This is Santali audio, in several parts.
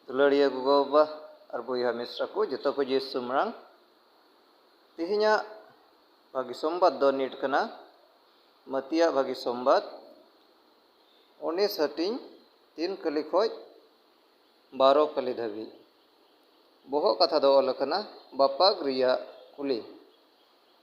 ᱫᱩᱞᱟᱹᱲᱤᱭᱟᱹ ᱜᱚᱜᱚᱼᱵᱟᱵᱟ ᱟᱨ ᱵᱚᱭᱦᱟ ᱢᱤᱥᱨᱟ ᱠᱚ ᱡᱚᱛᱚ ᱠᱚ ᱡᱮ ᱥᱩᱢᱨᱟᱝ ᱛᱮᱦᱮᱧᱟᱜ ᱵᱷᱟᱹᱜᱤ ᱥᱚᱢᱵᱟᱫ ᱫᱚ ᱱᱤᱴ ᱠᱟᱱᱟ ᱢᱟᱹᱛᱤᱭᱟᱜ ᱵᱷᱟᱹᱜᱤ ᱥᱚᱢᱵᱟᱫ ᱩᱱᱤᱥ ᱦᱟᱹᱴᱤᱧ ᱛᱤᱱ ᱠᱟᱹᱞᱤ ᱠᱷᱚᱡ ᱵᱟᱨᱚ ᱠᱟᱹᱞᱤ ᱫᱷᱟᱹᱵᱤᱡ ᱵᱚᱦᱚᱜ ᱠᱟᱛᱷᱟ ᱫᱚ ᱚᱞ ᱟᱠᱟᱱᱟ ᱵᱟᱯᱟᱜᱽ ᱨᱮᱭᱟᱜ ᱠᱩᱞᱤ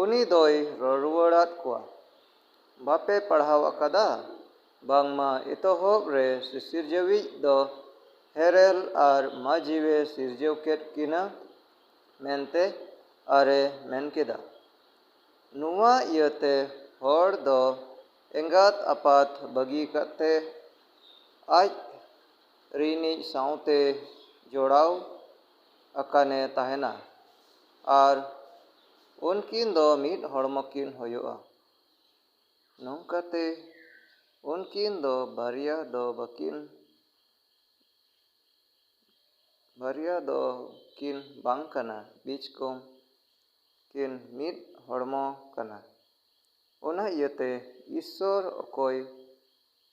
ᱩᱱᱤ ᱫᱚᱭ ᱨᱚᱲᱨᱩᱣᱟᱹᱲ ᱟᱫ ᱠᱚᱣᱟ, ᱵᱟᱯᱮ ᱯᱟᱲᱦᱟᱣ ᱟᱠᱟᱫᱟ ᱵᱟᱝᱢᱟ ᱮᱛᱚᱦᱚᱵ ᱨᱮ ᱥᱤᱥᱤᱨᱡᱟᱹᱣᱤᱡ ᱫᱚ ᱦᱮᱨᱮᱞ ᱟᱨ ᱢᱟᱹᱡᱷᱤᱣᱮ ᱥᱤᱨᱡᱟᱹᱣ ᱠᱮᱫ ᱠᱤᱱᱟ ᱢᱮᱱᱛᱮ ᱟᱨᱮ ᱢᱮᱱ ᱠᱮᱫᱟ᱾ ᱱᱚᱶᱟ ᱤᱭᱟᱹᱛᱮ ᱦᱚᱲ ᱫᱚ ᱮᱸᱜᱟᱛ ᱟᱯᱟᱛ ᱵᱟᱹᱜᱤ ᱠᱟᱛᱮ ᱟᱡ ᱨᱤᱱᱤᱡ ᱥᱟᱶᱛᱮ ᱡᱚᱲᱟᱣ ᱟᱠᱟᱱᱮ ᱛᱟᱦᱮᱱᱟ ᱟᱨ ᱩᱱᱠᱤᱱ ᱫᱚ ᱢᱤᱫ ᱦᱚᱲᱢᱚ ᱠᱤᱱ ᱦᱳᱭᱳᱜᱼᱟ᱾ ᱱᱚᱝᱠᱟᱛᱮ ᱩᱱᱠᱤᱱ ᱫᱚ ᱵᱟᱨᱭᱟ ᱫᱚ ᱵᱟᱠᱤᱱ ᱵᱟᱨᱭᱟ ᱫᱚ ᱠᱤᱱ ᱵᱟᱝ ᱠᱟᱱᱟ ᱵᱤᱡᱽ ᱠᱚᱢ ᱠᱤᱱ ᱢᱤᱫ ᱦᱚᱲᱢᱚ ᱠᱟᱱᱟ᱾ ᱚᱱᱟ ᱤᱭᱟᱹᱛᱮ ᱤᱥᱥᱚᱨ ᱚᱠᱚᱭ᱾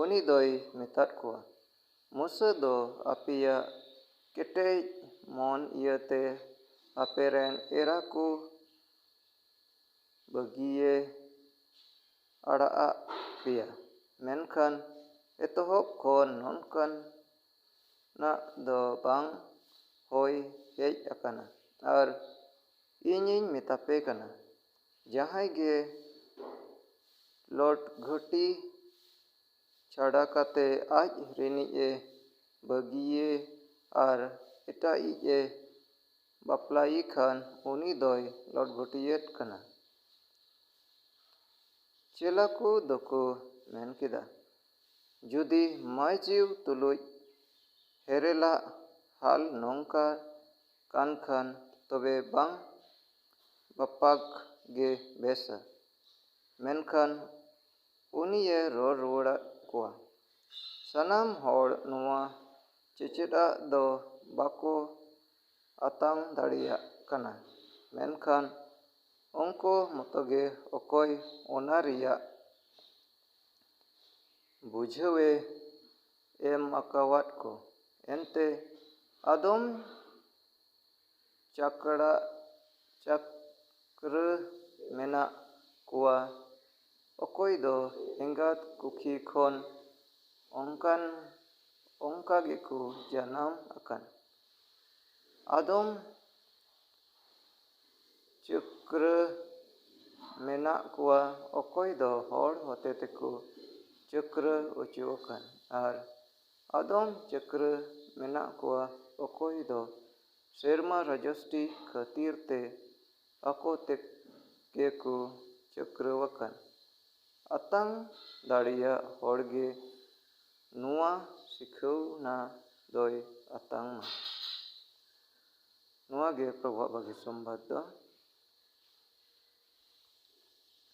ᱩᱱᱤ ᱫᱚᱭ ᱢᱮᱛᱟᱫ ᱠᱚᱣᱟ, ᱢᱩᱥᱟᱹ ᱫᱚ ᱟᱯᱮᱭᱟᱜ ᱠᱮᱴᱮᱡ ᱢᱚᱱ ᱤᱭᱟᱹ ᱛᱮ ᱟᱯᱮ ᱨᱮᱱ ᱮᱨᱟ ᱠᱚ ᱵᱟᱹᱜᱤᱭᱮ ᱟᱲᱟᱜ ᱟᱫ ᱯᱮᱭᱟ, ᱢᱮᱱᱠᱷᱟᱱ ᱮᱛᱚᱦᱚᱵ ᱠᱷᱚᱱ ᱱᱚᱝᱠᱟᱱᱟᱜ ᱫᱚ ᱵᱟᱝ ᱦᱳᱭ ᱦᱮᱡ ᱟᱠᱟᱱᱟ᱾ ᱟᱨ ᱤᱧᱤᱧ ᱢᱮᱛᱟᱯᱮ ᱠᱟᱱᱟ, ᱡᱟᱦᱟᱸᱭ ᱜᱮ ᱞᱚᱨᱰ ᱜᱷᱟᱹᱴᱤ ᱪᱷᱟᱰᱟ ᱠᱟᱛᱮ ᱟᱡ ᱨᱤᱱᱤᱡ ᱮ ᱵᱟᱹᱜᱤᱭᱮ ᱟᱨ ᱮᱴᱟᱜᱤᱡ ᱮ ᱵᱟᱯᱞᱟᱭᱮ ᱠᱷᱟᱱ ᱩᱱᱤ ᱫᱚᱭ ᱞᱚᱨᱰ ᱜᱷᱟᱹᱴᱤᱭᱮᱫ ᱠᱟᱱᱟ᱾ ᱪᱮᱞᱟ ᱠᱚ ᱫᱚᱠᱚ ᱢᱮᱱ ᱠᱮᱫᱟ, ᱡᱩᱫᱤ ᱢᱟᱹᱭᱡᱤᱣ ᱛᱩᱞᱩᱡ ᱦᱮᱨᱮᱞᱟᱜ ᱦᱟᱞ ᱱᱚᱝᱠᱟ ᱠᱟᱱ ᱠᱷᱟᱱ ᱛᱚᱵᱮ ᱵᱟᱝ ᱵᱟᱯᱟᱜᱽ ᱜᱮ ᱵᱮᱥᱟ᱾ ᱢᱮᱱᱠᱷᱟᱱ ᱩᱱᱤᱭᱮ ᱨᱚᱲ ᱨᱩᱣᱟᱹᱲᱟᱫ ᱠᱚᱣᱟ, ᱥᱟᱱᱟᱢ ᱦᱚᱲ ᱱᱚᱶᱟ ᱪᱮᱪᱮᱫᱟᱜ ᱫᱚ ᱵᱟᱠᱚ ᱟᱛᱟᱝ ᱫᱟᱲᱮᱭᱟᱜ ᱠᱟᱱᱟ᱾ ᱢᱮᱱᱠᱷᱟᱱ ᱩᱱᱠᱚ ᱢᱚᱛᱚᱜᱮ ᱚᱠᱚᱭ ᱚᱱᱟ ᱨᱮᱭᱟᱜ ᱵᱩᱡᱷᱟᱹᱣᱮ ᱮᱢ ᱟᱠᱟᱣᱟᱫ ᱠᱚ᱾ ᱮᱱᱛᱮ ᱟᱫᱚᱢ ᱪᱟᱠᱲᱟ ᱪᱟᱠᱨᱟᱹ ᱢᱮᱱᱟᱜ ᱠᱚᱣᱟ ᱚᱠᱚᱭ ᱫᱚ ᱮᱸᱜᱟᱛ ᱠᱩᱠᱷᱤ ᱠᱷᱚᱱ ᱚᱱᱠᱟᱱ ᱚᱱᱠᱟ ᱜᱮᱠᱚ ᱡᱟᱱᱟᱢ ᱟᱠᱟᱱ ᱟᱫᱚᱢ ᱪᱟᱠᱨᱟᱹ ᱢᱮᱱᱟᱜ ᱠᱚᱣᱟ ᱚᱠᱚᱭ ᱫᱚ ᱦᱚᱲ ᱦᱚᱛᱮ ᱛᱮᱠᱚ ᱪᱟᱠᱨᱟᱹ ᱚᱪᱚ ᱟᱠᱟᱱ ᱟᱨ ᱟᱫᱚᱢ ᱪᱟᱹᱠᱨᱟᱹ ᱢᱮᱱᱟᱜ ᱠᱚᱣᱟ ᱚᱠᱚᱭ ᱫᱚ ᱥᱮᱨᱢᱟ ᱨᱟᱡᱚᱥᱴᱤ ᱠᱷᱟᱹᱛᱤᱨ ᱛᱮ ᱟᱠᱚ ᱛᱮᱜᱮ ᱠᱚ ᱪᱟᱹᱠᱨᱟᱹᱣᱟᱠᱟᱱ᱾ ᱟᱛᱟᱝ ᱫᱟᱲᱮᱭᱟᱜ ᱦᱚᱲ ᱜᱮ ᱱᱚᱶᱟ ᱥᱤᱠᱷᱟᱹᱣᱱᱟ ᱫᱚᱭ ᱟᱛᱟᱝ ᱢᱟ᱾ ᱱᱚᱶᱟ ᱜᱮ ᱯᱨᱚᱵᱷᱟᱵᱟᱜᱤ ᱥᱚᱢᱵᱟᱫᱽ ᱫᱚ᱾